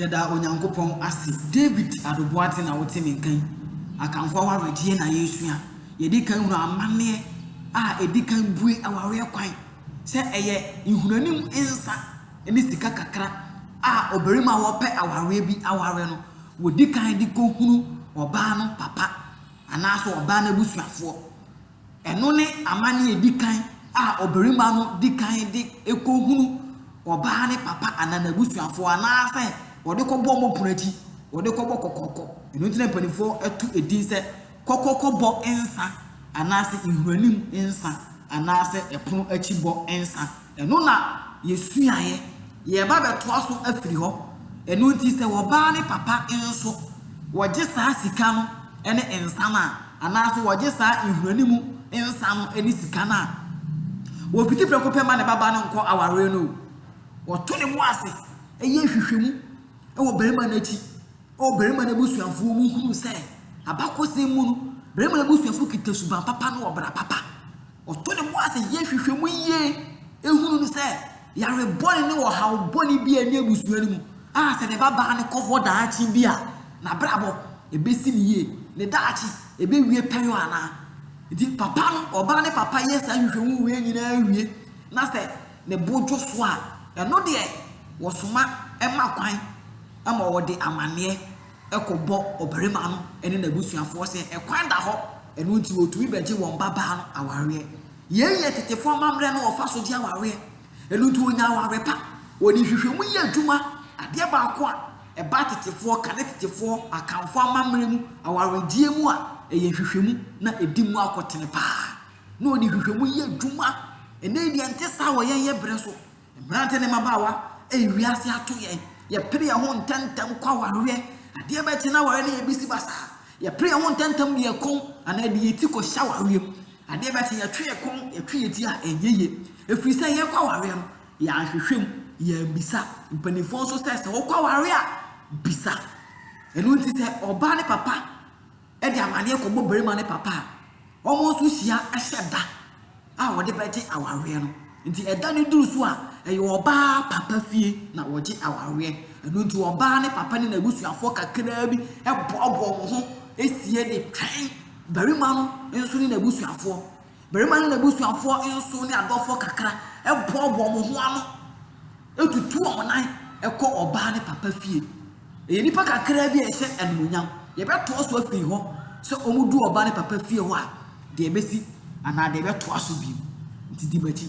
Yɛda Onyankopɔn ase. David Aduboate na wote me nka yi. Akanfo awareɛ tie na yɛresua. Yɛdi kan hunu amanneɛ a ɛdi kan bue awareɛ kwan sɛ ɛyɛ nhunaanim nsa ne sika kakra a ɔbarima a ɔpɛ awareɛ bi aware no, wɔdi kan de kɔhunu ɔbaa no papa anaasɛ ɔbaa no abusuafoɔ. Ɛno ne amanne a edi kan a ɔbarima no di kan de kohu ɔbaa ne papa anaa n'abusuafo anaasɛ wɔde kɔbɔ wɔn pono akyi, wɔde kɔbɔ kɔkɔkɔ. Ɛno nti na mpanimfoɔ to edin sɛ kɔkɔkɔbɔ nsa anaasɛ nhuranim nsa anaasɛ pono akyi bɔ nsa. Ɛno na yɛsuaeɛ, yɛreba bɛtoa so afiri hɔ. Ɛno nti sɛ ɔbaa ne papa nso, wɔgye saa sika no ne nsa no a, anaase wɔgye saa nhunani mu nsa no ne sika no a, wɔpiti prɛko pɛ ma ne baba no nkɔ awareɛ no o. Wɔto ne bo ase yɛ nhwehwɛmu wɔ barima no akyi. Ɔbarima no abusuafoɔ mu hunu sɛ abakɔsɛm mu no, barima no abusuafoɔ kita suban papa ne ɔbra papa. Ɔto ne bo ase yɛ hwehwɛ mu yie ehunu no sɛ yare bɔne ne ɔhaw bɔne bi a ɛne abusua no mu a sɛ ne ba baa no kɔ hɔ daakye bi a n'abrabɔ ebesi ne yie, ne daakye ebewie pɛyɔ anaa. Nti papa no, ɔbaa ne papa yɛ saa hwehwɛ mu wei nyinaa wie na sɛ ne bo dwo so a, ɛno deɛ wɔsoma ɛma kwan. ma wɔde amanneɛ kɔbɔ ɔbarima no ne n'abusuafoɔ sɛ ɛkwan da hɔ, ɛno nti wɔtumi bɛgye wɔn babaa no awareɛ. Yei yɛ tetefoɔ amammerɛ no wɔfa so gye awareɛ. Ɛno nti ɔnya aware pa. Wɔde nhwehwɛmu yɛ adwuma, adeɛ baako a ɛba atetefoɔ ka ne tetefoɔ Akanfoɔ amammerɛ mu awaregyeɛ mu a, ɛyɛ nhwehwɛmu na ɛdi mu akɔtene pa ara. Na wɔde nhwehwɛmu yɛ adwuma. Ɛnnɛ yi deɛ ɛnte saa wɔ yɛn yɛ berɛ so. Mmerante ne mmabaawa, ei wiase ato yɛn, yɛpere yɛn ho ntɛmntɛm kɔ awareɛ, adeɛ bɛkye na awareɛ no yɛ bisi basaa, yɛpere yɛn ho ntɛmntɛm de yɛn kɔn anaa de yɛn ti kɔhyɛ awareɛ mu, adeɛ bɛkye yɛtwe yɛn kɔn, yɛtwe yɛn ti a ɛnyɛ yie, ɛfiri sɛ yɛrekɔ awareɛ no yɛanhwehwɛ mu, yɛammisa, mpanimfoɔ nso sɛ sɛ wokɔ awareɛ a bisa, ɛno nti sɛ ɔbaa ne papa. de amaneɛ kɔbɔ barima ne papa a, wɔn nso hyia hyɛ da a wɔde bɛgye awareɛ no. Nti ɛda no duru so a, ɛyɛ ɔbaa papa fie na wɔgye awareɛ. Ɛno nti ɔbaa ne papa ne n'abusuafoɔ kakraa bi boaboa wɔn ho sie de twɛn barima no nso ne n'abusuafoɔ. Barima no n'abusuafoɔ nso ne adɔfoɔ kakra boaboa wɔn ho ano tutu wɔn nan kɔ ɔbaa ne papa fie. Ɛyɛ nnipa kakraa bi a ɛhyɛ animuonyam. Yɛbɛtoa so afiri hɔ sɛ wɔdu ɔbaa ne papa fie hɔ a, deɛ ɛbɛsi anaa deɛ ɛbɛtoa so bio. Nti di m'akyi.